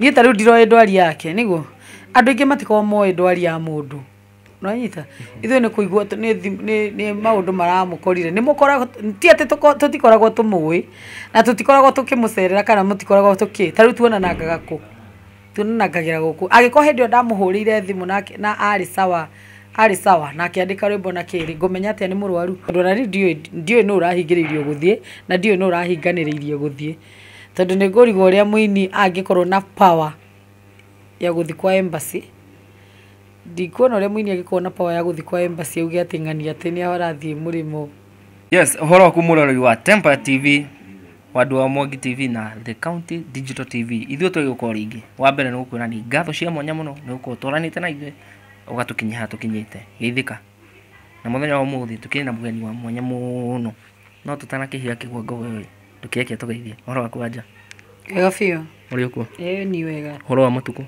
Niĩ ta rĩu ndiroĩ ndwari yake nĩguo, andũ aingĩ matikoragwo moĩ ndwari ya mũndũ, nĩ wanyita? Ithuĩ nĩ kũigua tũ nĩ thimũ nĩ nĩ maũndũ maramũkorire, nĩ mũkoragwo ti atĩ tũko tũtikoragwo tũmũĩ, na tũtikoragwo tũkĩmũcerera kana mũtikoragwo tũkĩ ta rĩu tuonanangaga kũ? Tuonanangagĩra gũkũ, angĩkorwo hĩndĩ ĩyo ndamũhũrĩire thimũ nake na arĩ sawa arĩ sawa na akĩandĩka rwĩmbo na kĩĩ rĩ, ngũmenya atĩa nĩ mũrwaru? Tondũ ona niĩ ndiũĩ ndiũĩ nũ ũrahingĩrĩirio gũthiĩ, na ndiũĩ nũ ũrahinganĩrĩirie gũthiĩ. Tondũ nĩ ngũrigwo ũrĩa mũini angĩkorwo na power ya gũthiĩ kwa embassy, ndikuona ũrĩa mũini angĩkorwo na power ya gũthiĩ kwa embassy auge atĩ ng'ania atĩ nĩ arathiĩ mũrĩmo. Yes, ũhoro waku mũroreri wa Tempa TV, wandũ wa Mwangi TV na The County Digital TV. Ithuĩ twĩ gũkorwo rĩngĩ. Wa mbere nĩ gũkwĩra nĩ ngatho cia mwanya mũno nĩ gũkorwo ũtwaranĩte na ithuĩ ũgatũkinyia haha tũkinyĩte. Geithĩka. Na mũthenya wa ũmũthĩ tũkĩrĩ na mũgeni wa mwanya mũno. No tũtanakĩhiga kĩgwa ngogoyo ĩ. Ndũkĩreke tũgeithie. Ũhoro waku anja? Wega biũ. Ũrĩ ũkuo? Ĩĩ ni wega. Ũhoro wa matukũ?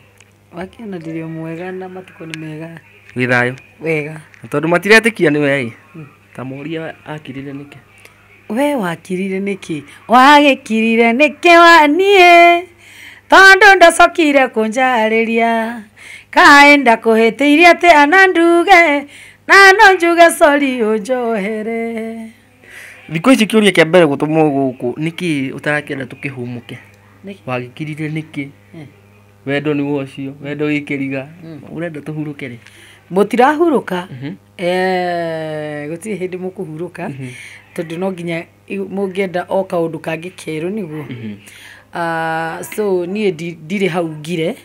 Wakĩona ndĩrĩ o mwega na matukũ nĩ mega. Wĩ thayũ? Wega. Na tondũ matiretĩkia nĩ wee-ĩ, hmm. ta morie akirire nĩkĩ? We wakirire nĩkĩ? Wagĩkirire nĩkĩ wa niĩ? Tondũ ndacokire kũnjarĩria. Kaĩ ndakũhĩtĩirie atĩ ana nduge na no njuge sorry ũnjohere. Thikũ ici kĩũria kĩa mbere gũtũmwo gũkũ nĩkĩ ũtarakĩenda tũkĩhumũke? Wagĩkirire nĩkĩ? Wendo nĩguo ũcio, wendo wĩ kĩriga. Ũrenda tũhurũke rĩ? Mũtirahurũka, eh, gũtirĩ hĩndĩ mũkũhurũka, tondũ no nginya i- mũngĩenda o kaũndũ kangĩ kerũ nĩguo. Ah, so niĩ ndi- ndirĩ hau ngire,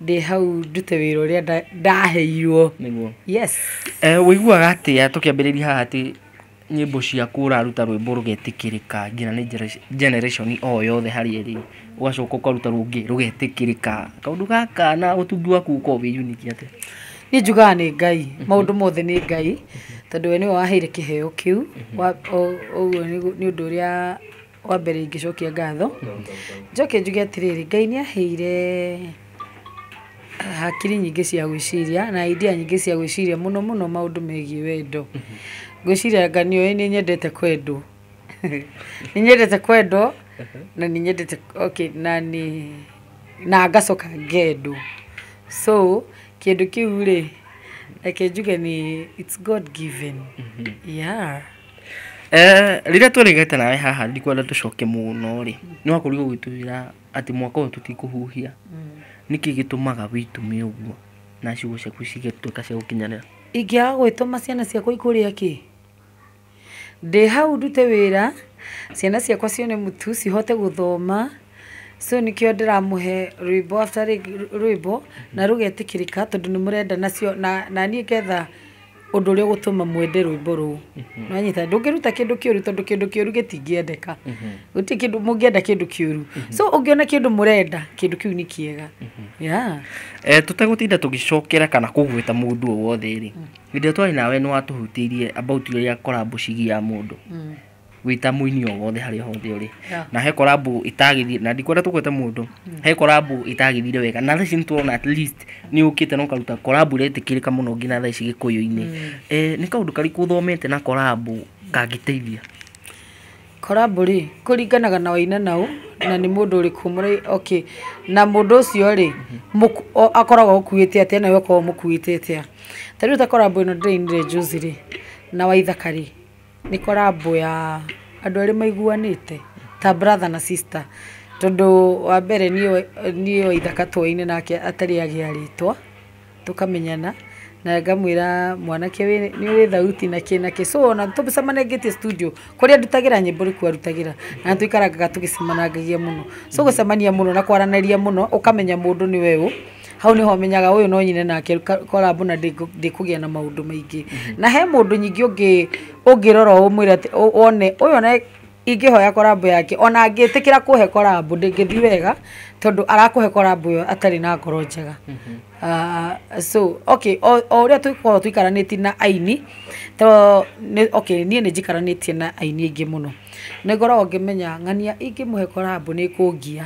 ndĩ hau ndute wĩra ũrĩa nda- ndaheirwo. Nĩguo. Yes. Eh, Ũiguaga atĩa tũkĩambĩrĩria haha atĩ Nyĩmbo ciaku ũraruta rwĩmbo rũgetĩkĩrĩka nginya nĩ generation o yothe harĩa ĩrĩ, ũgacoka ũkaruta rũngĩ rũgetĩkĩrĩka. Kaũndũ gaka na ũtungi waku ũkoragwo wĩ unique atĩa? Niĩ njugaga nĩ Ngai, maũndũ mothe nĩ Ngai, tondũ we nĩwe waheire kĩheo kĩu, ũguo nĩ ũndũ ũrĩa... Wa mbere ingĩcokia ngatho, njoke njuge atĩrĩrĩ, Ngai nĩ aheire hakiri nyingĩ cia gwĩciria na idea nyingĩ cia gwĩciria mũno mũno maũndũ megiĩ wendo. Ngwĩciria anga nĩũĩ nĩ nyendete kwendwo. Nĩ nyendete kwendwo na nĩ nyendete okay na nĩ na ngacoka ngendwo. So kĩndũ kĩu rĩ, reke njuge nĩ it's God given yeah. Eh, rĩrĩa tũrĩgete nawe haha ndikwenda tũcoke mũno rĩ nĩ wakorirwo ũgĩtwĩra atĩ mwaka ũyũ tũtikũhuhia nĩkĩ gĩtũmaga wĩtume ũguo na ciugo ciaku cigatuĩka cia gũkinyanĩra ingĩaga gwĩtũma ciana ciakwa ikũrĩa kĩ ndĩ hau ndute wĩra ciana ciakwa cione mũtu cihote gũthoma so nĩkĩo ndĩramũhe rwĩmbo after rwĩmbo na rũgetĩkĩrĩka tondũ nĩ mũrenda nacio na na niĩ ngetha ũndũ ũrĩa ũgũtũma mwende rwĩmbo rũu nĩwanyita ndũngĩruta kĩndũ kĩũru tondũ kĩndũ kĩũru gĩtingĩendeka gũtirĩ kĩndũ mũngĩenda kĩndũ kĩũru so ũngĩona kĩndũ mũrenda kĩndũ kĩu nĩ kĩega yeah. Eh, tũtagũtinda tũgĩcokera kana kũgweta mũndũ o wothe rĩ hĩndĩ ĩrĩa twarĩ nawe nĩ watũhutĩirie about rĩrĩa korambo cigia mũndũ gwita muini o wothe harĩa hothe ũrĩ Yeah. na he korambu itagithire na ndikwenda tũkwete mũndũ he korambu itagithire wega na thaa ici nĩtũrona at least nĩ ũkĩte na ũkaruta korambu ĩretĩkĩrĩka mũno nginya thaa ici gĩkũyũ-inĩ Eh, nĩ kaũndũ karĩkũ ũthomete na korambu kangĩteithia korambu rĩ kũringanaga na waina naũ na nĩ mũndũ ũrĩkũ mũrĩ okay na mũndũ ũcio rĩ mũku- o- akoragwo ũkuĩte atĩa nawe ũkoragwo mũkuĩte atĩa ta rĩu ta korambu ĩno ndĩrainire juzi rĩ na waithaka rĩ Nĩ collabo ya andũ erĩ maiguanĩte ta brother na sister, tondũ wa mbere niĩ wa ithaka twoaine nake atarĩ agĩa rĩtwa, tũkamenyana na ngamwĩra mwanake ũyũ nĩ ũrĩ thauti na kĩ na kĩ. So ona tũcemanangĩtie studio, kũrĩa ndutagĩra nyĩmbo nĩkuo arutagĩra na nĩ tũikaranaga tũgĩcemanangagia mũno. So gũcemania mũno na kwaranĩria mũno ũkamenya mũndũ nĩwe ũ. hau nĩho menyaga ũyũ no nyine nake korambu na ndĩkũgĩa na maũndũ maingĩ na he mũndũ nyingĩ ũngĩ ũngĩrora ũmwĩre atĩ ũ- one ũyũ na ingĩhoya korambu yake ona angĩtĩkĩra kũhe korambu ndĩngĩthiĩ wega tondũ arakũhe korambu ĩyo atarĩ na ngoro njega Ah, so okay o o ũrĩa tũkoragwo tũikaranĩtie na aini to nĩ- okay niĩ nĩ njikaranĩtie na aini aingĩ mũno nĩ ngoragwo ngĩmenya ng'ania ingĩmũhe korambu nĩ kũngia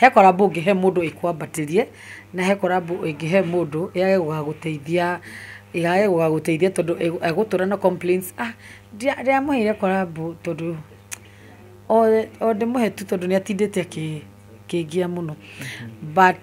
He korambu ũngĩhe mũndũ ĩkwambatĩrie, na he korambu ũngĩhe mũndũ yage gũgagũteithia, yage gũgagũteithia tondũ egũtũra na complains ah ndiamũheire korambu tondũ, o ndĩmũhe tu tondũ nĩatindĩte akĩngia mũno but.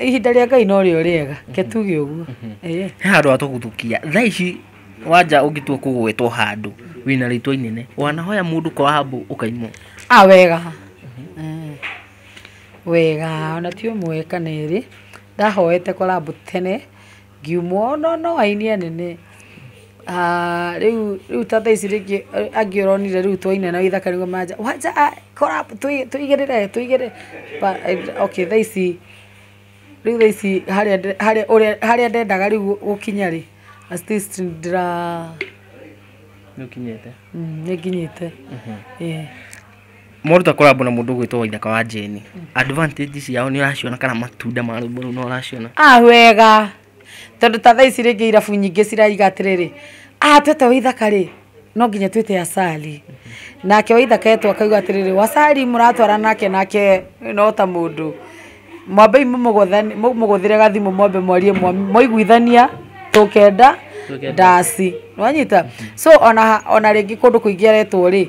ihinda rĩa ngai no rĩo rĩega ke tuge ũguo Ĩĩ. he handå atåguthukia tha ici wanja å ngĩtua kå gwetwo handå wä na rä itwa inene wanahoya må ndå koambå å kaimwo a wega Mm. wega ona ti ũmwe kana erĩ ndahoete korambu tene Ngiuma ũno no aini anene, aah rĩu ta thaa ici rĩngĩ angĩ ũronire rĩu twaina na gĩthaka nĩguo manja, wanja collab tũigĩrĩre tũigĩrĩre, okay thaa ici, rĩu thaa ici harĩa ndendaga rĩu gũkinya rĩ, at least ndĩra, nĩ nginyĩte, ĩĩ. Moruta collab na mũndũ ũgwĩtwo Waithaka wa Jane. Advantage ciao nĩ ũraciona kana matunda ma rwĩmbo rũu nĩ ũraciona. Ah wega. Tondũ ta thaa ici rĩngĩ irabu nyingĩ ciraiga atĩrĩrĩ, ah twete Waithaka rĩ, no nginya twĩte Asali. Nake Waithaka etwo akauga atĩrĩrĩ, Wasali mũratwara nake nake no ta mũndũ. Mwambei mũmũgũthani- mũmũgũthĩre gathimũ mwambe mwarie mwa- mwaiguithania tũkenda Tũkenda. ndaci. Nĩwanyita? So ona ha- ona rĩngĩ kũndũ kũingĩ aretwo rĩ,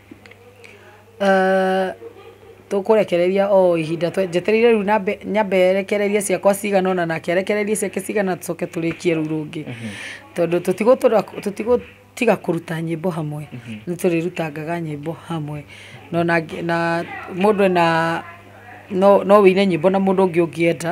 Tũkũrekereria o ihinda njetereire rĩu nyambe rekererie ciakwa cigana ũna nake arekererie ciake cigana ũna tũcoke tũrĩkie rũu rũngĩ, tondũ tũtigũtiga kũruta nyĩmbo hamwe, nĩ tũrĩrutangaga nyĩmbo hamwe, na mũndũ ena, no ũine nyĩmbo na mũndũ ũngĩ ũngĩenda.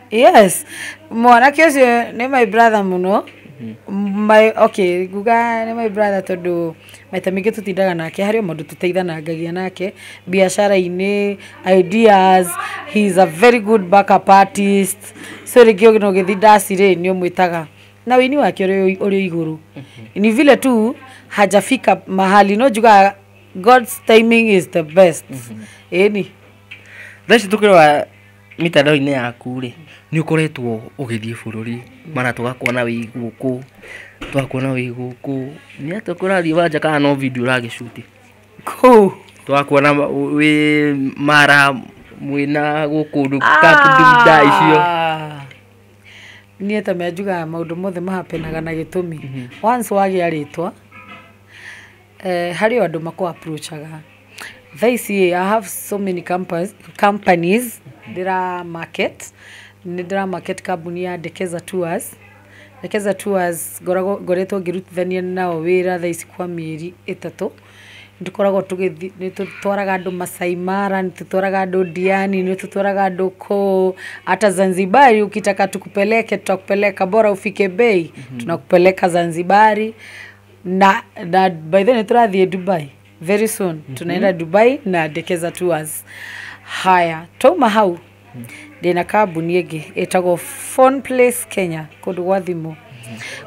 yes mwanake ũcio nĩ my brother mũno my okay nguga nĩ my brother tondũ maita maingĩ tũtindaga nake harĩ o maũndũ tũteithanangagia nake biacara-inĩ ideas he is a very good backup artist so rĩngĩ ũgĩ no gĩthi ndaci rĩ nĩ ũmwĩtaga na wĩini wake ũrĩ ũrĩ igũrũ ni vile tu hajafika mahali no njugaga god's timing is the best ĩni thaa ici tũkĩrora Mĩtandao-inĩ yaku-rĩ, nĩ ũkoretwo ũgĩthiĩ bũrũri mara tũgakũona wĩ gũkũ, tũgakũona wĩ gũkũ, nĩ atĩa kũrathiĩ kwanja kana no video ũra shoot kũu? Tũgakũona wĩ mara mwĩna gũkũ camp leader icio. Niĩ ta me njugaga maũndũ mothe ma happen aga na gĩtũmi. Once wagĩa rĩtwa... Harĩ o andũ makũ approach aga. Thaa ici ĩĩ I have so many companies ndĩra market. Nĩ ndĩra market kambuni ya Dekeza Tours. Dekeza Tours ngoragwo ngoretwo ngĩrutithania nao wĩra thaa ici kwa mĩeri ĩtatũ. Nĩ tũkoragwo tũgĩthiĩ, nĩ tũtwaraga andũ Maasai Mara, nĩ tũtwaraga andũ Diani, nĩ tũtwaraga andũ kũũ ata Zanzibari ukitaka tukupeleke, tutakupeleka bora ufike bei, tunakupeleka Zanzibari. na, na by the way nĩtũrathiĩ dubai very soon tunaenda dubai na dekeza tours haya twauma hau ndĩna kambuni ĩngĩ ĩtagwo phone place kenya kũndũ gwa thimũ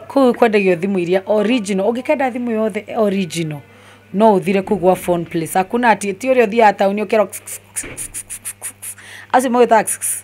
kũu kwendagio thimũ iria original ũngĩkenda thimũ yothe original no ũthire kũu gwa phone place hakuna ati ti ũrĩa ũthiaga taũni ũkĩra acio magwĩtaga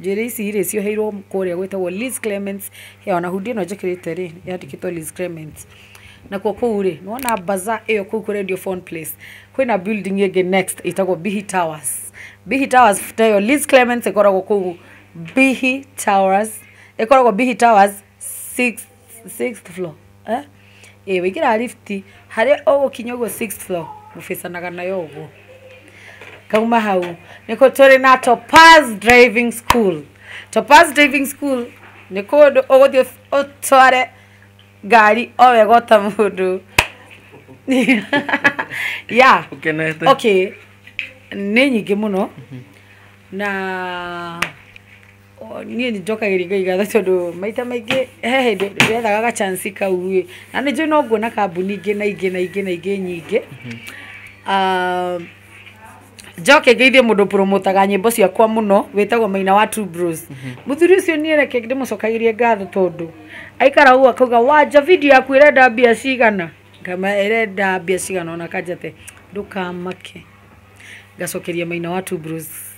Njuĩrĩ ici rĩ, cioheirwo kũrĩa gwĩtagwo Liz Clements, ya ona hundi ĩno njĩkĩrĩte rĩ, yandĩkĩtwo Liz Clements. Nakuo kũu rĩ, nĩ wona bazaar ĩyo kũu kũrendio phone place, kwĩna building ĩngĩ next ĩtagwo Bihi Towers. Bihi Towers ta ĩyo Liz Clements ĩkoragwo kũu Bihi Towers, ĩkoragwo Bihi Towers. sixth sixth floor eh ĩ waingĩra lift harĩa ũgũkinya ũguo sixth floor mũbĩcanaga nayo ũguo kauma hau nĩkũ tũrĩ na topaz driving school topaz driving school nĩ kũndũ ũgũthiĩ ũtware ngari o wega ota mũndũ ya Ũkenete. okay nĩ nyingĩ mũno na O, niĩ nĩ njokagĩria Ngai ngatho tondũ maita maingĩ he hĩndĩ ndĩrethaga ga chance kau ĩ, na nĩ njũĩ no nguona kambuni ingĩ na ingĩ na ingĩ na ingĩ nyingĩ, aah njoke ngeithie mũndũ ũbũrũmũtaga nyĩmbo ciakwa mũno wĩtagwo Maina wa Two Bros. Mũthuri ũcio niĩ reke ndĩmũcokagĩrie ngatho tondũ aikaraga ũguo akauga wanja video yaku ĩrenda mbia cigana? Ngamwĩra ĩrenda mbia cigana ona akanja atĩ ndũkamake, ngacokeria Maina wa Two Bros.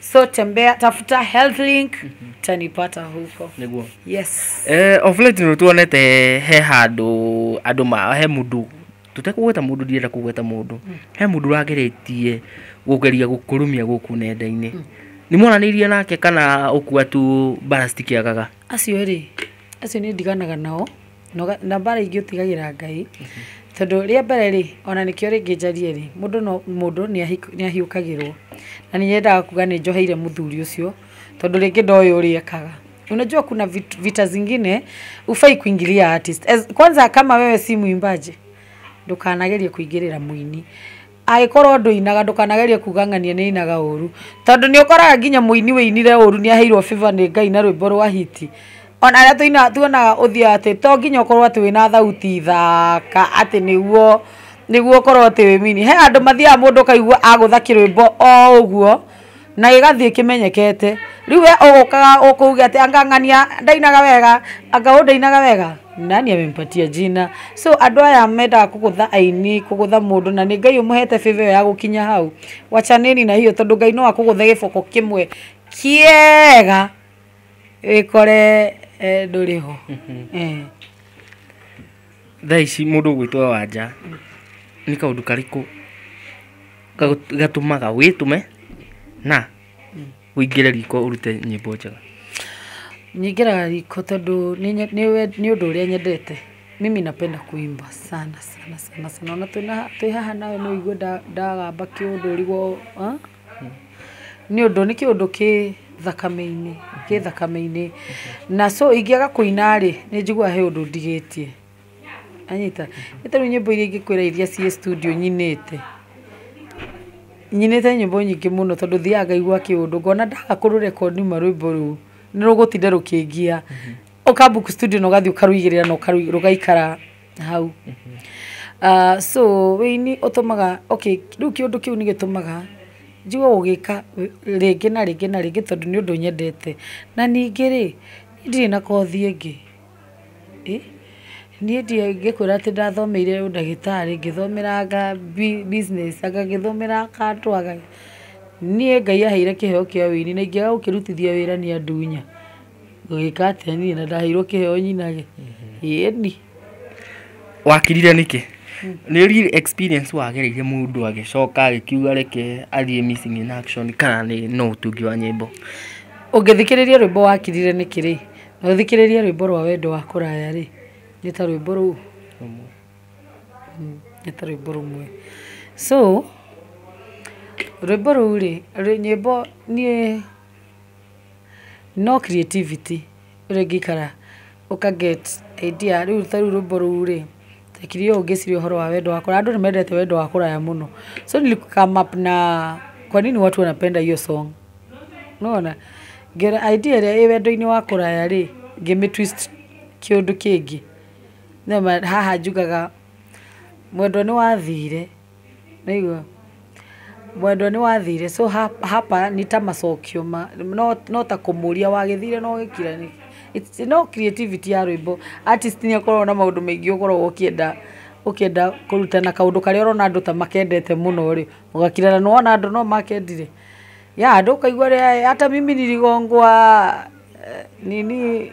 so tembea tafuta health link tanipata huko niguo yes eh of late no tuonete he handu andu ma he mundu tutekugweta mundu ndienda kugweta mundu he mundu rageretie gugeria gukurumia guku nenda-ini nĩ mwaranĩirie nake kana ũkua tu bara citikĩagaga acio rĩ acio nĩ ndiganaga nao Noga, na mbara ingĩ ũtigagĩra Ngai, tondũ rĩa mbere rĩ, ona nĩkĩo rĩngĩ njarie rĩ, mũndũ no, mũndũ nĩahi, nĩahiũkagĩrwo, na nĩnyendaga kuga nĩnjoheire mũthuri ũcio, tondũ rĩngĩ ndoĩ ũrĩa ekaga, unajua kuna vit, vita zingine hufai kuingilia artist, as, kwanza kama wewe si mwimbaji, ndũkanagerie kũingĩrĩra mũini. Angĩkorwo ndũinaga ndũkanagerie kuga ng'ania nĩainaga ũru tondũ nĩũkoraga nginya mũini wĩinire ũru nĩaheirwo favor nĩ Ngai na rwĩmbo rwa hit. Ona arĩa tũinaga tuonaga ũthiaga atĩ to nginya ũkorwo atĩ wĩna thauti thaka atĩ nĩguo nĩguo ũkorwo atĩ wĩ mũini. He andũ mathiaga mũndũ ũkaigua agũtha kĩrwĩmbo o ũguo. na gĩgathiĩ kĩmenyekete rĩu we ũgũkaga ũkũge atĩ anga ng'ania ndainaga wega anga ũũ ndainaga wega nani amempatia jina so andũ aya mendaga kũgũtha aini kũgũtha mũndũ na nĩ ngai ũmũhete favour ĩyo ya gũkinya hau wachaneni na hiyo tondũ ngai no akũgũthe gĩboko kĩmwe kĩega wĩkore eh, ndũrĩ ho Eh. Thaa ici mũndũ gwĩtwo wa nja nĩ kaũndũ karĩkũ gatũmaga wĩtũme na ũingĩre riko ũrute nyĩmbo njega? Nyingĩraga riko tondũ nĩ ũndũ ũrĩa nyendete. Mimi napenda kuimba sana sana sana. Ona twĩ haha nawe no ũigwe ndagamba kĩũndũri. Nĩ ũndũ nĩ kĩũndũ kĩ thakame-inĩ, kĩ thakame-inĩ. Na so ingĩaga kũina rĩ, nĩ njiguaga he ũndũ ndigĩtie. Wanyita? Nĩ ta rĩu nyĩmbo iria ingĩkwĩra iria ciĩ studio nyinĩte, nyinĩte nyĩmbo nyingĩ mũno tondũ thiaga ngaigua kĩũndũ, ngona ndaga kũ record ma rwĩmbo rũu, nĩ rũgũtinda rũkĩngia. Ũka book studio na ũgathiĩ ũkarũigĩrĩra na rũgaikara. hau. So ũini ũtũmaga, okay rĩu kĩũndũ kĩu nĩ gĩtũmaga njigue gũgĩka rĩngĩ na rĩngĩ na rĩngĩ tondũ nĩ ũndũ nyendete. Na ningĩ rĩ, ndirĩ na kothi ĩngĩ. Niĩ ingĩkwĩra atĩ ndathomeire ũndagĩtarĩ, ngĩthomera business, anga ngĩthomera kandũa rĩ, niĩ Ngai aheire kĩheo kĩa ũini na ingĩaga gũkĩrutithia wĩra niĩ andunya. Ngũgĩka atĩa niĩ na ndaheirwo kĩheo nyinage? Ĩĩni. Wakirire nĩkĩ? Nĩ real experience wagereire mũndũ agĩcoka agĩkiuga reke athiĩ missing in action kana nĩ no ũtungi wa nyĩmbo? Ũngĩthikĩrĩria rwĩmbo wakirire nĩkĩ rĩ, na ũthikĩrĩrie rwĩmbo rwa wendo wa kũraya rĩ, nĩ ta rwĩmbo rũu, nĩ ta rwĩmbo rũmwe. So, rwĩmbo rũu rĩ, nyĩmbo niĩ... No creativity ũrĩa ingĩikara ũka get idea rĩu ta rĩu rwĩmbo rũu rĩ, ndekire ũũ ngĩciria ũhoro wa wendo wa kũraya, andũ nĩ mendete wendo wa kũraya mũno, so nili come up na kwa nini watu wanapenda hiyo song, nĩ wona, ngerwo idea ĩrĩa ĩ wendo-inĩ wa kũraya rĩ, ngĩmĩ twist kĩũndũ kĩngĩ, nĩ ũndũ haha njugaga, mwendwa nĩ wathire. Nĩaigua. Mwendwa nĩ wathire so hapa nĩ ta macokio ma no ta kũmũria wagĩthire na ũgĩkira nĩkĩ? No creativity ya rwĩmbo. Artist nĩ akoragwo na maũndũ maingĩ ũkoragwo ũkĩenda ũkĩenda kũruta na kaũndũ karĩa ũrona andũ ta makendete mũno rĩ, ũgakira na nĩ wona andũ no makendire. Yeah andũ ũkaigua rĩ hata mimi niligongwa nini.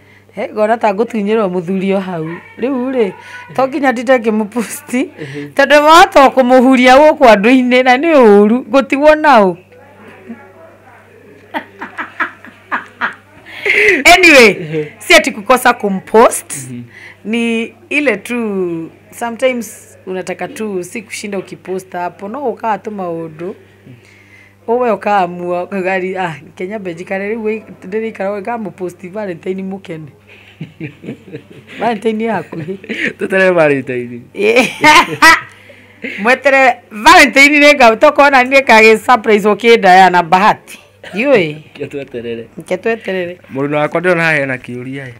He, ngona ta ngũtunyĩrwo mũthuri o hau rĩu rĩ to nginya ndinde ngĩmũpusti tondũ wahota kũmũhuria gũkũ andũ-inĩ na nĩ ũru gũtigwo naũ anyway si ati kukosa kumpost ni ile tu sometimes unataka tu si kushinda ukipost hapo no ukawa tu maundu Ũwe ũkamua gari ah Kenya benji kare rĩu ndĩrĩikara ũguo ngĩkamũ post valentine mũkene valentine ĩ hakuhĩ Tũtere Valentine. mweterere valentine nĩ ngau tokorwo nani nĩ kagĩ surprise ũkĩndaya na bahati ndiũĩ Reke tweterere. reke tweterere Mũruna wakwa ndĩrona haha hena kĩũria ĩ.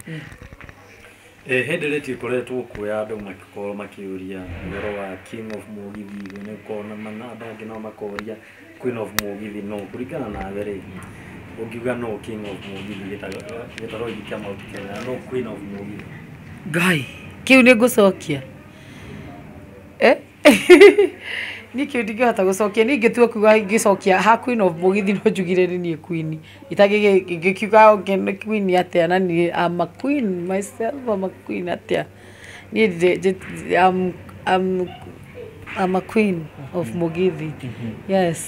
Ĩ hĩndĩ ĩrĩa ĩkoretwo kuo ya andũ magĩkorwo makĩũria ũhoro wa king of mũgithi, nĩũkuona andũ angĩ nao makoria queen of mũgithi nũ? Kũringana nawe rĩ, ũngiuga nũ king of mũgithi gĩtarũ gĩkĩ kĩa Mount Kenya na nũ queen of mũgithi? Ngai, kĩu nĩ ngũcokia? Eh? Niĩ kĩu ndingĩhota gũcokia. Niĩ ingĩtua kuuga ngĩcokia ha queen of mũgithi no njugire nĩ niĩ queen. Gĩkiuga okay nĩ queen atĩa na niĩ am a queen myself am a queen atĩa niĩ ndirĩ am a queen of Mũgithi yes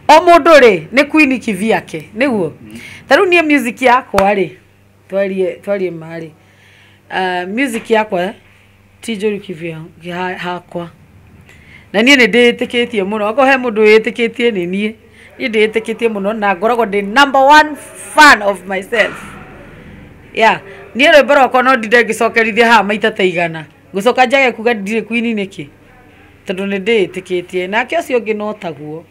o mũndũ rĩ nĩ queen kĩvyake nĩguo ta rĩu niĩ music yakwa rĩ. twarie twarie marĩ uh, music yakwa ti njũru kivya ha- hakwa na niĩ nĩ ndĩĩtĩkĩtie mũno okorwo he mũndũ wĩĩtĩkĩtie nĩ niĩ niĩ ndĩĩtĩkĩtie mũno na ngoragwo ndĩ number one fan of myself ya niĩ rwĩmbo rwakwa no ndinde ngĩcokerithia haha maita ta igana ngũcoka njage kuga ndirĩ kwini nĩkĩ tondũ nĩ ndĩĩtĩkĩtie nake ũcio ũngĩ no taguo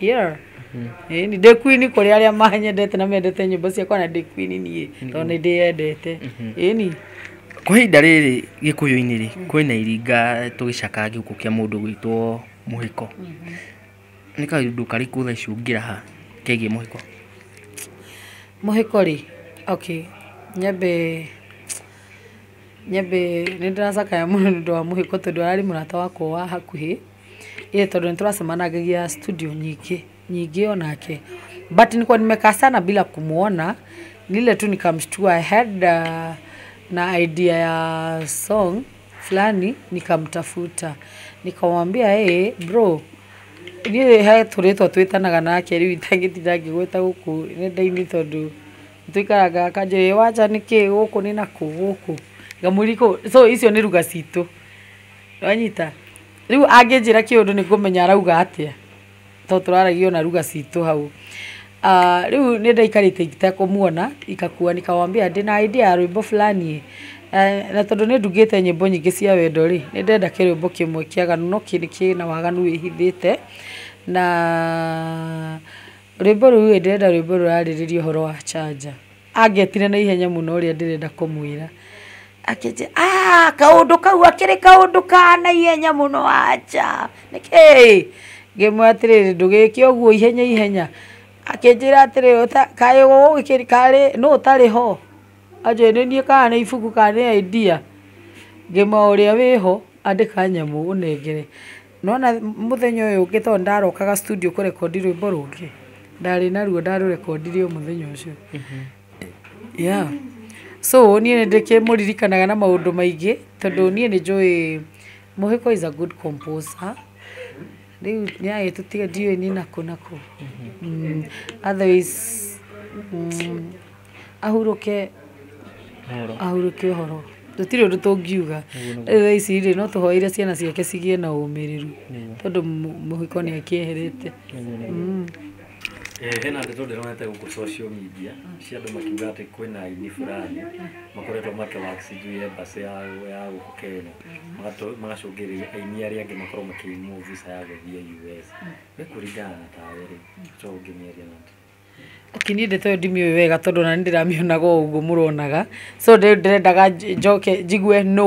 yeah Ĩĩ, nĩ ndĩ queen kũrĩ arĩa manyendete na mendete nyĩmbo ciakwa na ndĩ queen niĩ tondũ nĩ ndĩyendete ĩni kwa ihinda rĩrĩ gĩkũyũ-inĩ rĩ kwĩna iringa tũgĩcakaga gĩkuũ kĩa mũndũ gwĩtwo mũhĩko nĩ kaũndũ karĩkũ thaa ici ũngĩraha kegiĩ mũhĩko mũhĩko rĩ okay nyambe nyambe nĩ ndĩracakaya mũno nĩ ũndũ wa mũhĩko tondũ ararĩ mũrata wakwa wa hakuhĩ Ĩĩ tondũ nĩ tũracemanagĩria studio nyingĩ nyingĩ o nake. But niko nimekaa sana bila kumuona, ni ile tu nikamshtua I had na idea ya song fulani nikamtafuta. Nikamwambia ee bro, niĩ he tũrĩtwa twĩtanaga nake rĩu itangĩtinda ngĩgwĩta gũkũ nenda-inĩ tondũ nĩ tũikaraga, akanjũria ĩĩ wanja nĩ kĩĩ gũkũ nĩ nakũ gũkũ? Ngamũria so icio nĩ lugha citũ. Nĩwanyita? Rĩu angĩnjĩra kĩũndũ nĩngũmenya arauga atĩa to tũraragia ona ruga citũ hau. Ah, rĩu nĩndaikarĩte itekũmuona, ikakua nikamwambia ndĩ na idea ya rwĩmbo fulani ĩ, na tondũ nĩndugĩte nyĩmbo nyingĩ cia wendo rĩ, nĩndenda kĩrwĩmbo kĩmwe kĩaganu no kĩna waganu wĩhithĩte, na rwĩmbo rũu ĩ, ndĩrenda rwĩmbo rũrarĩrĩria ũhoro wa canja. Angetire na ihenya mũno ũrĩa ndĩrenda kũmwĩra. Akĩnjĩra, ah, kaũndũ kau akĩrĩ kaũndũ ka na ihenya mũno aja. Nĩkĩ? Ngĩmwĩra atĩrĩrĩ, ndũgĩke ũguo ihenya ihenya. Akĩnjĩra atĩrĩrĩ, "Ũta- kaĩ ũgũgĩkĩri- karĩ nũ ũtarĩ ho? Anjũria, nĩ niĩ kana nĩ ibuku kana nĩ idea? Ngĩmwĩra ũrĩa wĩho andĩka nyamũ ũnengere. Nĩwona mũthenya ũyũ ũngĩ tondũ nĩndarokaga studio kũrekondi rwĩmbo rũngĩ, ndarĩ naruo ndarũrekondire o mũthenya ũcio. Yeah. So niĩ nĩndĩkĩmũririkanaga na maũndũ maingĩ tondũ niĩ nĩnjũĩ Mũhĩko is a good composer. Rĩu nĩagĩtũtiga ndiũĩ nĩ nakũ nakũ. Otherwise. ahurũke ahurũke ũhoro tũtirĩ ũndũ tũngiuga rĩu thaa ici rĩ no tũhoere ciana ciake cigĩe na ũmĩrĩru tondũ mũ- mũhiko nĩ akĩeherete Mm. Eh, hena ndeto ndĩronete gũkũ social media cia andũ makiuga atĩ kwĩna aini fulani makoretwo makĩwak sijui embassy ya ya gũkũ kenya Magato- magacũngĩrĩria aini arĩa angĩ makorwo makĩimwo visa ya gũthiĩ us nĩ kũringana na tawe rĩ to ũngĩmĩaria nake Ati niĩ ndeto ĩyo ndimĩũĩ wega tondũ ona niĩ ndĩramĩonaga o ũguo mũronaga, so rĩu ndĩrendaga njoke njigue nũ,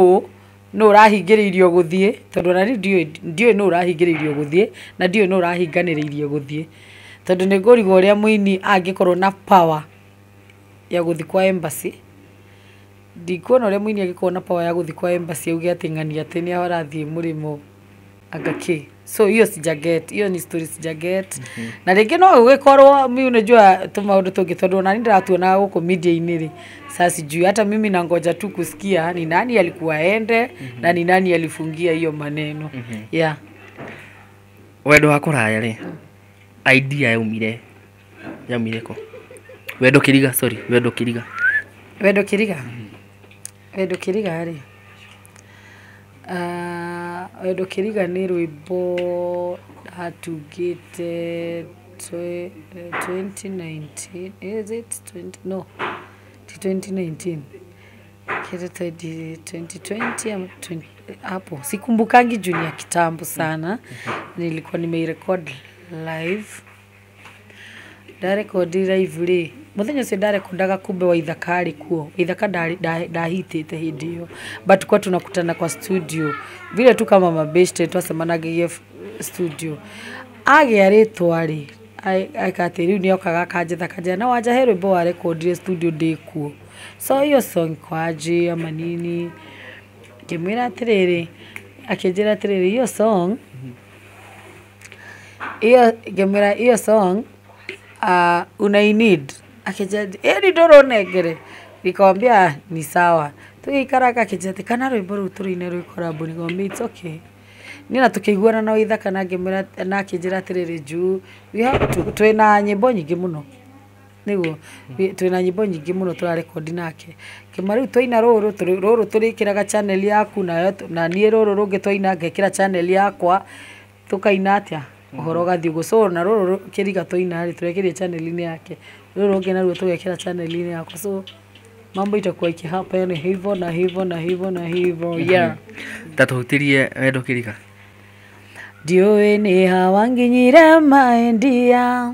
nũ ũrahingĩrĩirio gũthiĩ, tondũ ona rĩu ndiũĩ, ndiũĩ nũ ũrahingĩrĩirio gũthiĩ, na ndiũĩ nũ ũrahinganĩrĩirio gũthiĩ. Tondũ nĩ ngũrigwo ũrĩa mũini angĩkorwo na power ya gũthiĩ kwa embassy, ndikuona ũrĩa mũini angĩkorwo na power ya gũthiĩ kwa embassy auge atĩ ng'ania atĩ nĩho arathiĩ mũrĩmo. anga ki so hiyo sija get hiyo ni story sija get na rĩngĩ no ũgĩkorwo mi unajua tũ maũndũ tũngĩ tondũ nani ndĩratuona gũkũ media-inĩ rĩ saa sijui hata mimi nangoja tu kusikia ni nani alikuwa ende na ni nani alifungia hiyo maneno yeah wendo wa kũraya rĩ idea yaumire Yaumire kũ? Wendo Kĩriga, sorry, Wendo Kĩriga. Wendo Kĩriga? Wendo Kĩriga rĩ, ah, Wendo Kĩriga nĩ rwĩmbo atungĩte twe- 2019, is it 20 no, ti 2019. Kĩndũ ta hivi 2020 ama 20 hapo. Sikumbukangi juu ni ya kitambo sana. Nilikuwa nimeirecord live. Nda record live rĩ, mũthenya ũcio nda rekondaga kumbe Waithaka arĩ kuo. Waithaka ndahitĩte hĩndĩ ĩyo but tulikuwa tunakutana kwa studio vile tu kama mabeshte twacemanagĩria studio. Agĩa rĩtwa rĩ, eka atĩ rĩu nĩ okaga akanjetha akanjĩra na wanja he rwĩmbo wa record studio ndĩ kuo. So hiyo song iko aje ama nini? Ngĩmwĩra atĩrĩrĩ, akĩnjĩra atĩrĩrĩ hiyo song Hiyo ngemwĩra hiyo song uh, unainid akĩnjeti ĩni ndũrũnengere nikamwambia "Ah, ni sawa tũgĩikaraga akĩnjeti kana rwĩmbo rũu tũrũine rwĩ korambu nikamwambia it's okay niĩ na tũkĩiguana na waithaka na ngĩmwĩra na akĩnjĩra atĩrĩrĩ juu we have to twĩna nyĩmbo nyingĩ mũno nĩguo twĩna nyĩmbo nyingĩ mũno tũrarekondi nake kĩmwe rĩu twaina rũrũ tũrĩ- rũrũ tũrĩkĩraga channel yaku nayo tũ- na niĩ rũrũ rũngĩ twaina ngekĩra channel yakwa tũkaina atĩa ũhoro ũgathiĩ ũguo so na rũrũ rũ- kĩriga twaina rĩ tũrekĩria channel-inĩ yake rũrũ rũngĩ naruo tũgekĩra channel-inĩ yakwa so mambo itakuwa ikihappen hivo na hivo na hivo na hivo yeah ta tũhutĩrie wendo kĩriga ndiũĩ nĩ hawa nginyire maendia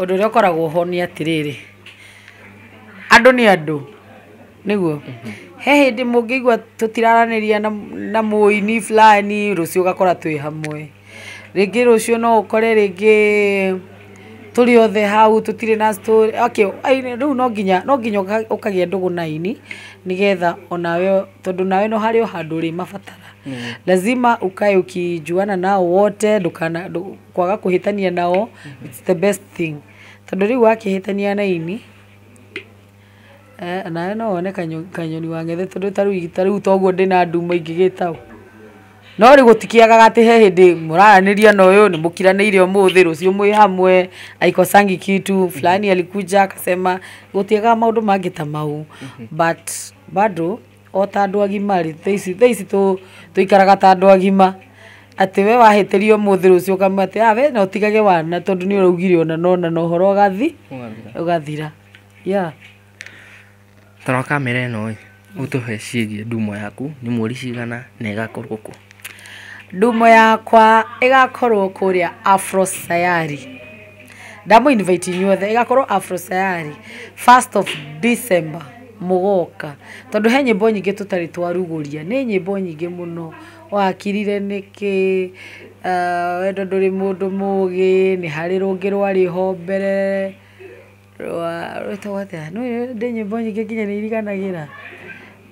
Ũndũ ũrĩa ũkoragwo ho nĩ atĩrĩrĩ, andũ nĩ andũ, nĩguo? He hĩndĩ mũngĩigua tũtiraranĩria na mũini fulani, rũciũ ũgakora twĩ hamwe. Rĩngĩ rũciũ no ũkore rĩngĩ tũrĩ othe hau tũtirĩ na story, okay, rĩu no nginya ũkagĩa ndũgũ na aini nĩgetha onawe, tondũ onawe harĩ o handũ ũrĩmabatara. Lazima ukae ukijuana nao wote ndũkana... Kwaga kũhĩtania nao it's the best thing. Tondũ rĩu wakĩhĩtania na aini, nawe no wone kanyoni wang'ethe tondũ ta rĩu ta rĩu ta ũguo ndĩ na nduma ingĩgĩta ũ? No rĩu gũtikĩagaga atĩ he hĩndĩ mũraranĩria na ũyũ, nĩ mũkiranĩire ũmũthĩ, rũciũ mwĩ hamwe, haikosangi kitu, fulani alikuja akasema, gũtiagaga maũndũ mangĩ ta mau but bado. o ta andũ agima rĩ, thaa ici, thaa ici tũ, tũikaraga ta andũ agima, atĩ we wahĩtĩria ũmũthĩ rũciũ ũkamwĩra atĩ ah we na ũtigage wana tondũ nĩ ũraugire ũna na ũna na ũhoro ũgathi, ũgathira. Yeah. Toro kamera ĩno ĩ ũtũhe ciĩgiĩ ndumo yaku nĩ mweri cigana na ĩgakorwo kũ Ndumo yakwa ĩgakorwo kũrĩa Afro Sayari. ndamũ invite inyuothe ĩgakorwo afro sayari first of december mũgoka tondũ he nyĩmbo nyingĩ tũtarĩ twarugũria nĩ nyĩmbo nyingĩ mũno wakirire nĩkĩ ah, wendo ndũrĩ mũndũ mũgĩ nĩ harĩ rũngĩ rwarĩ ho mbere rwa rwĩtagwo atĩa Nĩ- ndĩ nyĩmbo nyingĩ nginya nĩ iriganagĩra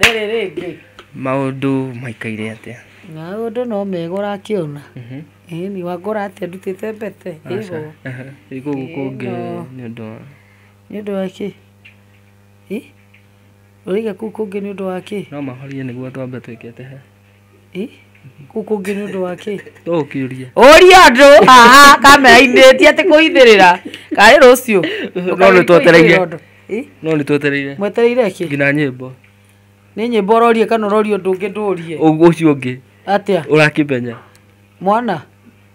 Rĩrĩ rĩngĩ. Maũndũ maikaire atĩa? Maũndũ no mega ũrakĩona. Ĩni wangora atĩa ndutĩte mbete. Aca. Rĩu gũkũ kũngĩ nĩ ũndũ wa. Nĩ ũndũ wa kĩ? Ũraiga kũu kũngĩ nĩ ũndũ wa kĩ? No mahorie nĩguo twambe twĩkĩte he. kũngĩ nĩ ũndũ wa kĩ ũkĩũria ũria andũ aha kamera-inĩ ti atĩ kũithĩrĩra karĩ rũciũ no nĩ twetereire no nĩ twetereire mwetereire kĩ nginya nyĩmbo nĩ nyĩmbo ũrorie kana ũrorie ũndũ ũngĩ ndũrie Ũ- ũcio ũngĩ atĩa ũrakĩmenya mwana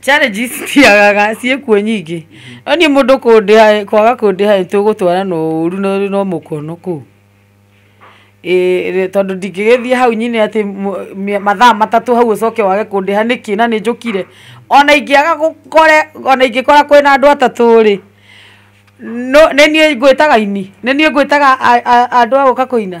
challenges citiagaga ciĩkuo nyingĩ no niĩ mũndũ kũndĩha kwaga kũndĩha nĩ tũgũtwarana ũru na no mũkono kũu Ĩĩ, tondũ ndingĩgĩthiĩ hau nyine atĩ mũ- mĩ- mathaa matatũ hau ũcoke wage kũndĩha nĩkĩ na nĩ njũkire ona ingĩaga gũkore ona ingĩkora kwĩna andũ atatũ rĩ no- nĩ niĩ ngwĩtaga aini nĩ niĩ ngwĩtaga a- a- andũ a gũka kũina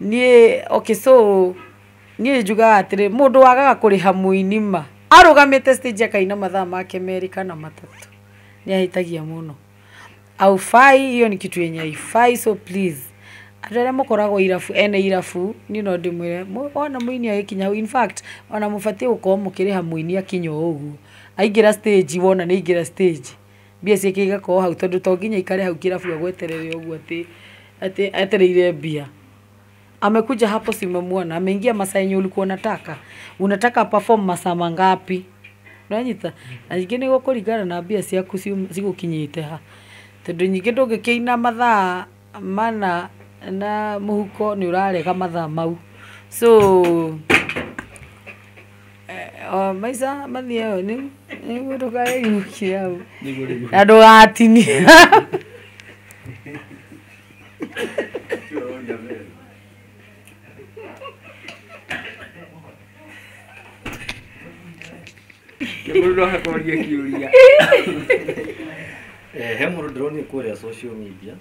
Niĩ, okay so niĩ njugaga atĩrĩ mũndũ wagaga kũrĩha mũini ma arũgamĩte stage akaina mathaa make merĩ kana matatũ nĩ ahĩtagia mũno haufai hiyo ni kitu yenye haifai so please andũ arĩa mũkoragwo irabu ene irabu niĩ no ndĩmwĩre mũ- wona mũini agĩkinya hau in fact ona mũbatiĩ gũkorwo mũkĩrĩha mũini akinya o ũguo aingĩra stage wona nĩ aingĩra stage Mbia ciake igakorwo hau tondũ to nginya aikare hau kĩrabu agweterere ũguo atĩ atĩ etereire mbia. Amekuja hapo si umemwona, ameingia masaa yenye ulikuwa unataka. Unataka aperform masaa mangapi? Nĩwanyita? Na ningĩ nĩ gũkũringana na mbia ciaku cigũkinyĩte ha. Tondũ ningĩ ndũngĩkĩina mathaa. mana na mũhuko nĩ ũrarega mathaa mau so eh, maica mathiĩ ĩyo nĩ nĩguo ndũkaĩhukie hau na ndũgatinie Mũndũ no akorie kiũria. Eh, he mũndũ ndĩronire kũrĩa social media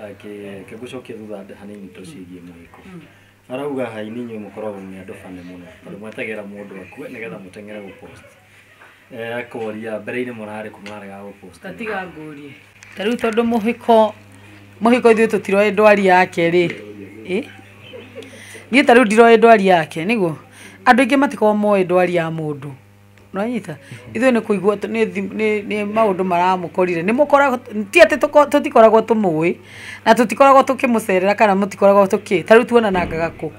akĩ- akĩgũcokia thutha handũ hanini to ciĩgiĩ mũhiko arauga haini inyuĩ mũkoragwo mwĩ andũ bane mũno tondũ mwetagĩra mũndũ akue nĩgetha mũteng'ere gũpost Eh, koria mbere-inĩ mũrarĩ kũ mũrarega gũpost tatiga ngũrie ta rĩu tondũ mũhiko mũhiko ithuĩ tũtiroĩ ndwari yake rĩ ĩ niĩ ta rĩu ndiroĩ ndwari yake nĩguo andũ aingĩ matikoragwo moĩ ndwari ya mũndũ nonyita ithuĩ nĩ kũigua tũ- nĩ thi- nĩ- nĩ maũndũ maramũkorire nĩ mũkoragwo ti atĩ tũko- tũtikoragwo tũmũĩ na tũtikoragwo tũkĩmũcerera kana mũtikoragwo tũkĩ ta rĩu tuonanangaga kũ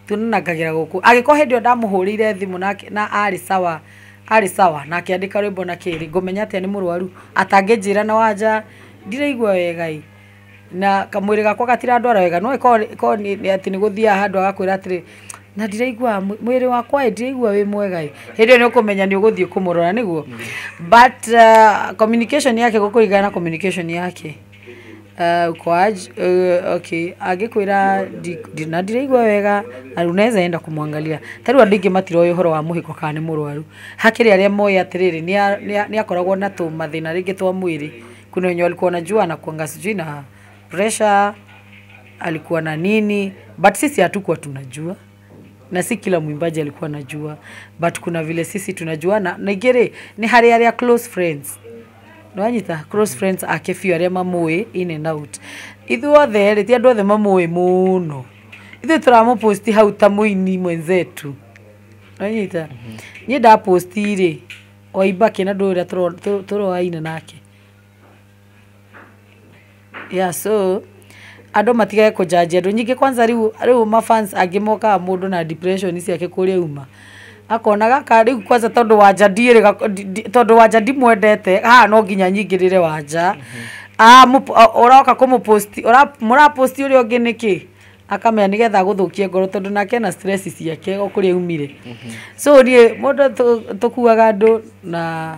Tũnanagĩra gũkũ. Agĩkorwo hĩndĩ ĩyo ndamũhũrĩire thimũ na na arĩ sawa, arĩ sawa na akĩandĩka rwĩmbo na kĩrĩ, ngũmenya atĩa nĩ mũrwaru? Atangĩnjĩra na wanja ndiraigua wega ĩ, na kamwĩrĩ gakwa gatirandwara wega. No ĩkorwo ĩkorwo nĩ nĩ atĩ nĩgũthiaga handũ agakwĩra atĩrĩ, na ndiraiguaga mwĩrĩ wakwa ĩ ndiraigua wĩ mwega ĩ, hĩndĩ ĩyo nĩũkũmenya nĩũgũthiĩ kũmũrora, nĩguo? But communication yake gũkũ ĩigana na communication yake. angĩkwĩra na ndiraigua wega na unaweza enda kumwangalia ta rĩu andũ aingĩ matiroĩ ũhoro wa mũhĩko kana nĩ mũrwaru hakĩrĩ arĩa moĩ atĩrĩrĩ nĩakoragwo na tũmathĩna rĩngĩ twa mwĩrĩ kuna wenye walikuwa wanajua anakuanga sijui na pressure alikuwa na nini but sisi hatukuwa tunajua. na si kila mwimbaji alikuwa anajua but kuna vile sisi tunajuana na igere ni hari aria close friends nwanyita close friends ake biũ arĩa mamũĩ in and out ithuothe rĩ ti andũ othe mamũĩ mũno ithuĩ tũramũposti hau ta mũini mwenzetu nwanyita niĩ ndaposti rĩ oimba kĩna ndũ ũrĩa tũro- tũ- tũroaina nake Yeah so andũ matigage kũjajia andũ. Nyingĩ kwanza rĩu rĩu ma fans angĩ mokaga mũndũ na depression ciake kũrĩa uma. Akona gaka rĩu kwanza tondũ wanja ndiĩ rĩ gako- ndi- ndi- tondũ wanja ndimwendete haha no nginya nyingĩrĩre wanja. Ah, mũp- ah, ũroka kũmũpost ũra- mũrapost ũrĩa ũngĩ nĩkĩ? akamenya nĩgetha agũthũkie ngoro tondũ nake ena stress ciake o kũrĩa aumire. So niĩ mũndũ tũ- tũkuaga andũ na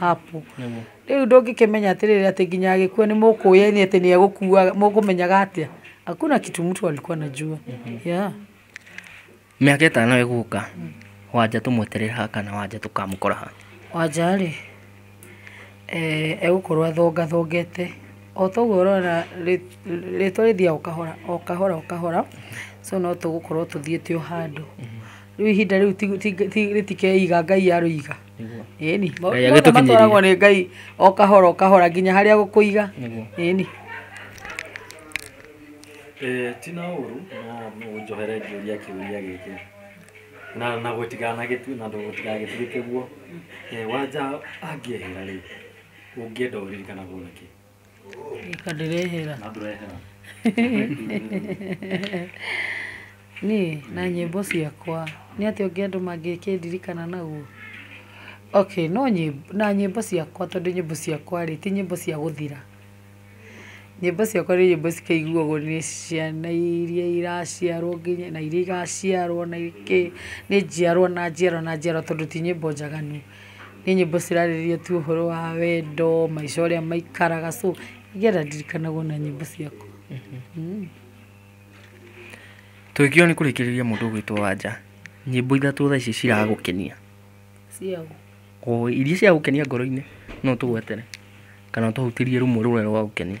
Apple. Rĩu ndũngĩkĩmenya atĩrĩrĩ atĩ nginya agĩkua nĩ mũkũĩaine atĩ nĩ egũkua mũkũmenyaga atĩa? Hakuna kitu mtu alikuwa anajua. Yeah. Mĩaka ĩtano ĩgũka wanja tũmweterere ha kana wanja tũkamũkora ha? Wanja rĩ, eh, egũkorwo athongathongete o toguo ũrona rĩ- rĩtwa rĩthiaga o kahora o kahora o kahora so no tũgũkorwo tũthiĩte o handũ. Rĩu ihinda rĩu ti- ti- ti- rĩtikeiga Ngai arũiga. Nĩguo. ĩni Ngai mothe agĩtũkinyĩria. matwaragwo nĩ ngai o kahora o kahora nginya harĩa gũkũiga Nĩguo. ĩni Eh, ti na ũru no no ũnjohere ngĩũria kĩũria gĩkĩ na na gũtiganagĩtue na gũtigagĩtuĩke guo Eh, wanja angĩehera rĩ ũngĩenda ũririkanaguo nakĩ Reka ndĩrehera. na ndũrehera Niĩ na nyĩmbo ciakwa nĩ atĩa ũngĩ andũ mangĩkĩndirikana naguo? Okay no nyĩmbo na nyĩmbo ciakwa tondũ nyĩmbo ciakwa rĩ ti nyĩmbo cia gũthira. Nyĩmbo ciakwa nĩ nyĩmbo cikaiguagwo nĩ ciana iria iraciarwo nginya na iria igaciarwo na ingĩ nĩ njiarwa na njiarwa na njiarwa tondũ ti nyĩmbo njaganu. Nĩ nyĩmbo cirarĩrĩria tu ũhoro wa wendo, maica ũrĩa maikaraga so nĩgetha ndirikanaga ona nyĩmbo ciakwa. Tũgĩkinya nĩ kũrĩkĩrĩria mũndũ ũgwĩtwo Wanja, nyĩmbo ithatũ thaa ici ciragũkenia. Cia ũ? O iria ciragũkenia ngoro-inĩ no ũtũgwetere kana ũtũhutĩrie rũmwe rũrĩa rũragũkenia.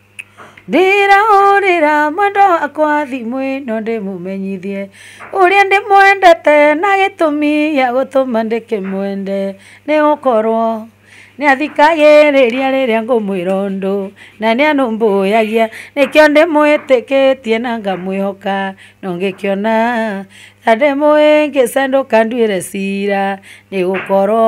Ndĩrahũrĩra mwendwa wakwa thimũ ĩno ndĩmũmenyithie ũrĩa ndĩmwendete na gĩtũmi gĩa gũtũma ndĩkĩmwende nĩ gũkorwo nĩ athikagĩrĩria rĩrĩa ngũmwĩra ũndũ na nĩ arũmbũyagia nĩkĩo ndĩmwĩtĩkĩtie na ngamwĩhoka na ũngĩkĩona ta ndĩmũhĩngĩca ndũkanduĩre cira nĩ gũkorwo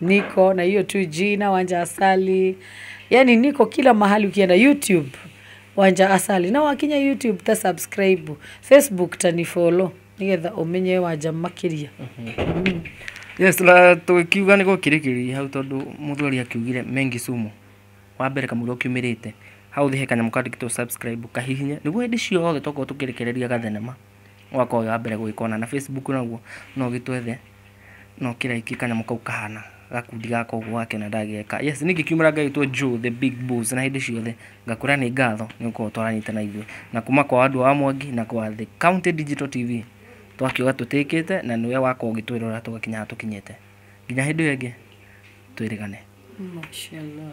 niko na hiyo tu jina wanja asali yani niko kila mahali ukienda youtube wanja asali na wakinya youtube ta subscribe facebook tanifolo nigetha umenye wanja makiria yes na tũkiuga nĩ gũkirĩkĩria hau tondũ mũthuri akiugire mengi sumu wa mbere kamũira ũkiumĩrĩte hau thĩ he kanyamũ kandĩkĩtwo subscribe kahihinye nĩguo hĩndĩ ciothe tokorwo tũkĩrekereria gathenema ũgakorwo wĩ wa mbere gũgĩkona. Na Facebook naguo no ũgĩtwethe na ũkĩraiki kanyamũ kau kahana gakundi gaka ũguo gake na ndageka. Yes, niĩ ngĩkiumĩra ngagĩtwo Joe the Big Boss na hĩndĩ ciothe ngakwĩra nĩ ngatho nĩ gũkorwo twaranyita na ithuĩ na kuma kwa andũ a Mwangi na kwa The County Digital TV twakiuga tũtĩkĩte na nĩwe wakorwo ũgĩtwĩrora tũgakinya haha tũkinyĩte. Nginya hĩndĩ ĩyo ĩngĩ twĩrĩgane. Mashallah.